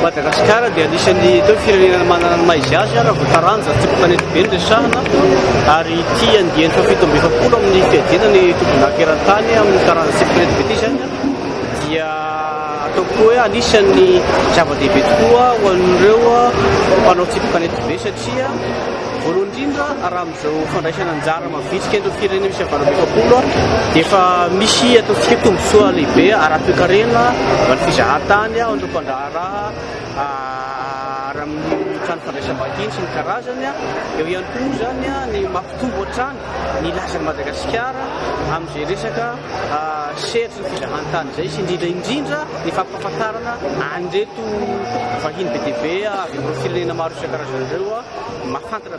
Madagasikara dia anisan'ny teo firenena manana ny maha izy azy raha vao taranja ny tobim-panety be ny resahana ary ity andiany fahafito amby efapolo amin'ny fiadiana ny tobinaka eran-tany amin'ny taranja tobim-panety be ity izany dia ataoko hoe anisan'ny zava-dehibe tokoa ho an'ireo mpanao tobim-panety be satria voalohany indrindra raha Izao fandraisana anjara mavitrika ireo firenena misy havanana efapolo dia efa misy ataontsika tombontsoa lehibe ara-toekarena ho an'ny fizahantany ao an'ireo mpandraharaha ary amin'ny trano fandraisam-bahiny sy ny karazany. Eo ihany koa moa izany ny mampitombo hatrany ny lazan'i Madagasikara amin'izay resaka sehatry ny fizahantany izay sy indrindra indrindra ny fampahafantarana an'ireto vahiny be dia be avy amin'ireo firenena maro isan-karazany ireo mahafantatra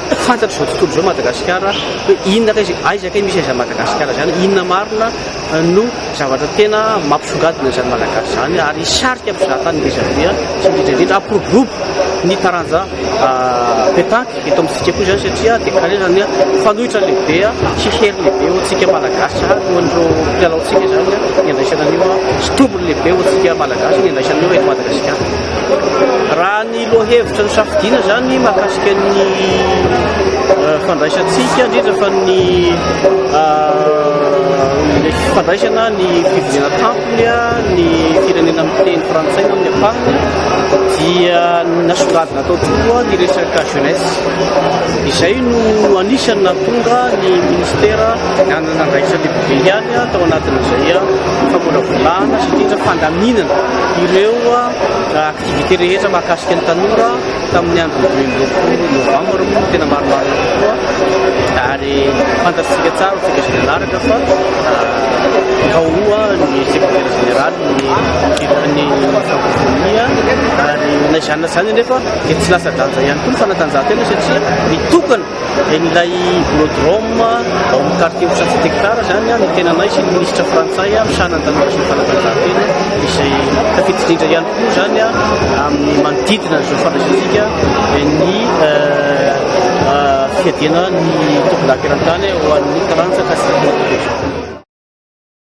Fantatry izao tontolo izao Madagasikara hoe inona kay, aiza kay misy an'izany Madagasikara izany, inona marina no zavatra tena mampisongadina an'izany Malagasy izany ary hisarika mpizahatany ngeza be sy indrindra indrindra hampiroborobo ny taranja pétanque eto amin'ny tsika koa izany satria déclaré izany fanoitra lehibe sy hery lehibe ho antsika Malagasy ary ho an'ireo mpilalaontsika izany ny andraisana an'io sy tombony lehibe ho antsika Malagasy ny andraisana an'io eto Madagasikara. Raha ny lohahevitra nosafidiana izany mahakasika ny eh, fandraisantsika indrindra fa ny eh, fandraisana ny fivoriana tampony ny firenena miteny frantsay amin'ny ampahany dia nasongadina tao tokoa ny resaka jeunesse izay no anisany natonga ny ministera nanana andraisan'ny lehibe ihany tao anatin'izay famolavolana sy indrindra fandaminana ireo activités rehetra mahakasika ny tanora tamin'ny andron'ny dimy amby roapolo novambra moa tena marimarina tokoa ary fantatsika tsara tsika sy nanaraka fa kaoa ny secrétaire général ny fitan'ny francofonia ary na izany na izany nefa dia tsy lasa danja ihany koa ny fanatanjahantena satria mitokana dia ilay Borodrome ao amin'ny quartier Ocha Tsektar izany no antenanay sy ny minisitra frantsay misahana ny tanora sy ny fanatanjahantena izay tafiditra indrindra ihany koa izany amin'ny manodidina izao fandraisantsika ny fiadiana ny tombontsoa eran-tany ho an'ny taranja Castille-Mantequera.